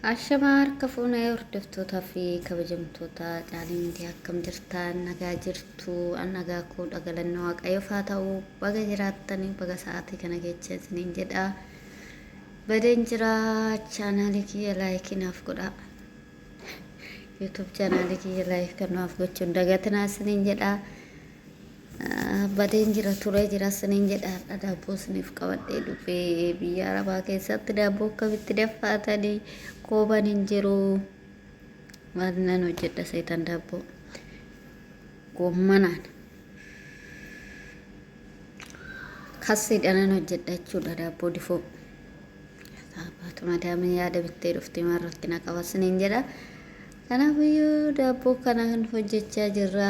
Ashamaa harka fuunee hordoftootaa fi kabajamtoota caalii miidiyaa akkam jirtaan nagaa jirtu an nagaa koo dhagalanni waaqayyoof haa ta'u baga jiraattanii baga sa'aatii kana kecha isiniin jedha badeen jira chaanaalii kiyya laayikii naaf godha yuutuub chaanaalii kiyya laayikii kan naaf gochuun dagatinaa isiniin jedha Badeen jira turee jira isiniin jedha har'a daabboo isiniif qabadhee dhufe biyya arabaa keessatti daabboo akkamitti daffaatanii kooban hin jiru maal nan hojjedha seetan daabboo goommanaan kassiidha nan hojjedha jechuudha daabboo difoo baatu madaamiin yaada bittee dhufte maal rakkina qaba isiniin jedha kanaafiyyuu daabboo kana hojjechaa jirra.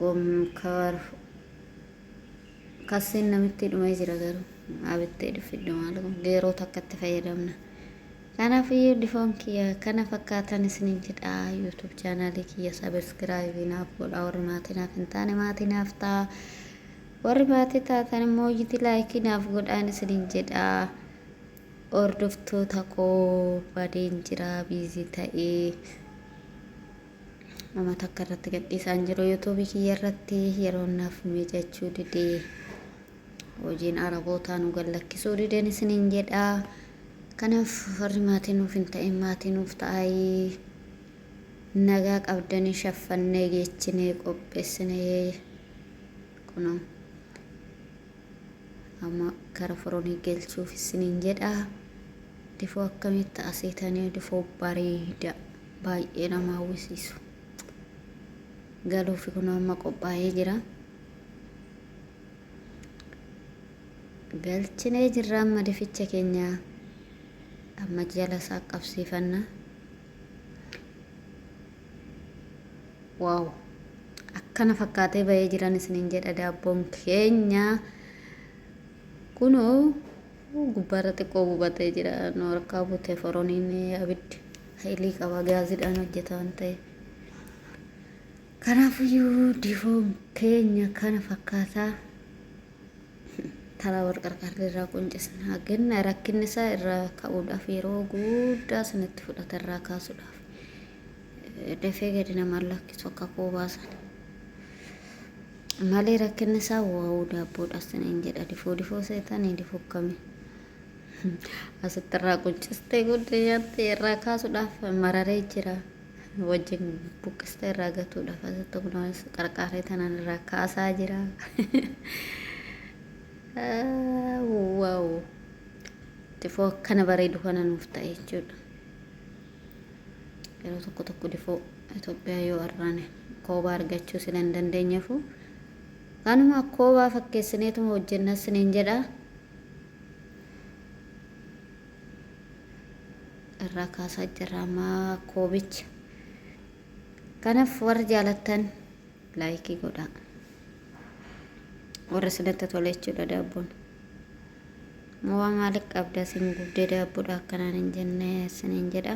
gomkaar kasseen namitti dhumee jira garuu abittee dhuffiddu maal kun geeroo takkatti fayyadamna kanaaf iyyuu difoon kiyya kana fakkaatan isinin jedha yuutuub chaanaalii kiyya sabiskiraayivii naaf godha warri maatii naaf hin taane maatii naaf ta'a warri maatii taatan immoo iyyiti laayikii naaf godhaan isinin jedha hordoftoota koo badeen jira biizii ta'ee Nama takka irratti gadhiisaa hin jiru yuutuubii kiyya irratti yeroon naaf miijachuu didee hojiin arabootaa nu gallakkisuu dideen isiniin jedha. Kanaaf warri maatii nuuf hin ta'in maatii nuuf ta'aayii nagaa qabdanii shaffannee geechinee qopheessinee kunoo amma kara foronii gelchuuf isiniin jedha. Difoo akkamitti asiitanii difoo bareeda. baay'ee nama hawwisiisu galuufi kun amma qophaa'ee jira galchinee jirra amma dificha keenya amma jala isaa qabsiifanna waaw akkana fakkaatee ba'ee jiran isiniin jedha daabboon keenya kunoo gubbaarra xiqqoo gubatee jira nu harkaa bute foroniin abiddi Fedhii qaba gaazidhaan hojjeta waan ta'eef. Kanaafuyyuu difoon keenya kana fakkaataa taraa wal qarqarri irraa quncisna. Ganna rakkinni isaa irraa ka'uudhaaf yeroo guddaa sinitti fudhata irraa kaasuudhaaf. Dafee gadi nama lakkisu akka koo baasan. Malee rakkinni isaa waa'uu daabboodhaaf siniin jedha difoo difoo seetanii difoo akkamii. Asitti irraa quncistee guddee nyaattee irraa kaasuudhaaf mararee jira. Wajjin buqqistee irraa gatuudhaaf asitti kunuunis qarqaaree tanaan irraa kaasaa jira. Waaw! Difoo akkana bareedu kana nuuf ta'e jechuudha. Yeroo tokko tokko difoo Itoophiyaa yoo arraane koobaa argachuu sila hin dandeenyeefu. Kanuma koobaa fakkeessineetuma hojjennaa siniin jedha. irraa kaasaa jirra ammaa koobicha kanaaf warri jaalattan laayikii godhaa warra isinatti tole jechuudha daabboon mowaa maaliif qabda isin gubdee daabboodha akkanaan hin jenne isiniin jedha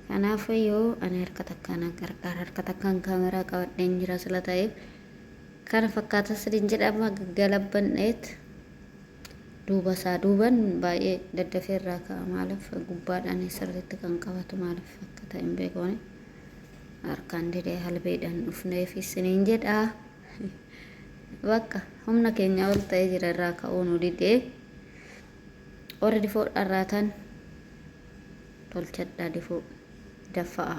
kanaaf yoo ani harka takkaan gargaara harka takkaan kaameraa qabadheen jira sila ta'eef Kana fakkaata sinin jedha amma galabban dha'eet duuba isaa duuban baay'ee daddafee irraa ka'a maaliif gubbaadhaan sirriitti kan qabatu maaliif akka ta'e hin beeku ani harkaan didee halbeedhaan dhufneef sinin jedha bakka humna keenya ol ta'ee jira irraa ka'uu nu didee warri difoo dharraatan tolchadhaa difoo daffa'aa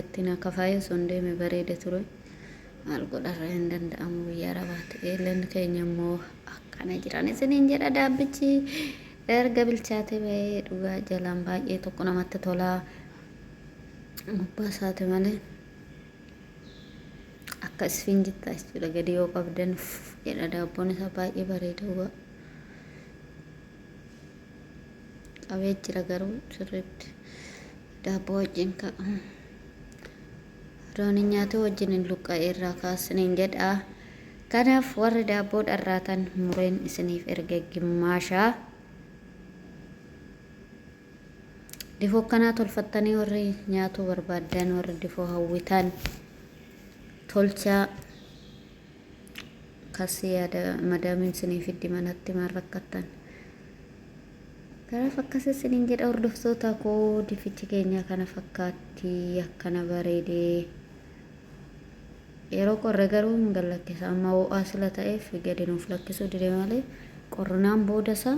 Itti na kafaayee sun deeme bareeda ture. Maal godharra hin danda'amu biyya arabaa ta'e. Leen keenya immoo akkana jiran isiniin jedha daabbichi erga bilchaate ba'ee dhugaa jalaan baay'ee tokko namatti tolaa. Gubbaa isaati malee akka isfiin jittaa jechuudha gadi yoo qabdan jedha daabboon isaa baay'ee bareeda dhugaa. Qabee jira garuu sirriitti. Daabboo wajjin ka loon hin nyaatu wajjin hin luqqa'e irraa ka'a isiniin jedha. Kanaaf warri daabboo dharraatan mureen isiniif erge gimmaasha. Difoo akkanaa tolfattanii warri nyaatuu barbaaddan warri difoo hawwitan tolchaa kasii yaada madaamiin isiniif fiddi manatti maal rakkattan. Kanaaf akkas isiniin jedha hordoftoota koo difichi keenyaa kana fakkaatti akkana bareede yeroo qorre garuu hin gallakkisa amma ho'aa sila ta'eef gadi nuuf lakkisuu dide malee qorrinaan booda isaa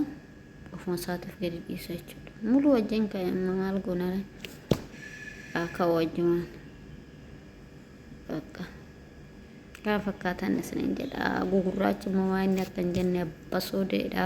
ofuma isaatiif gadi dhiisa jechuudha muluu wajjin ka'e maal goonare haa ka'u wajjumaan bakka kana fakkaatan isiniin jedha gugurraachi immoo waan inni akka hin jenne abbasoodeedha.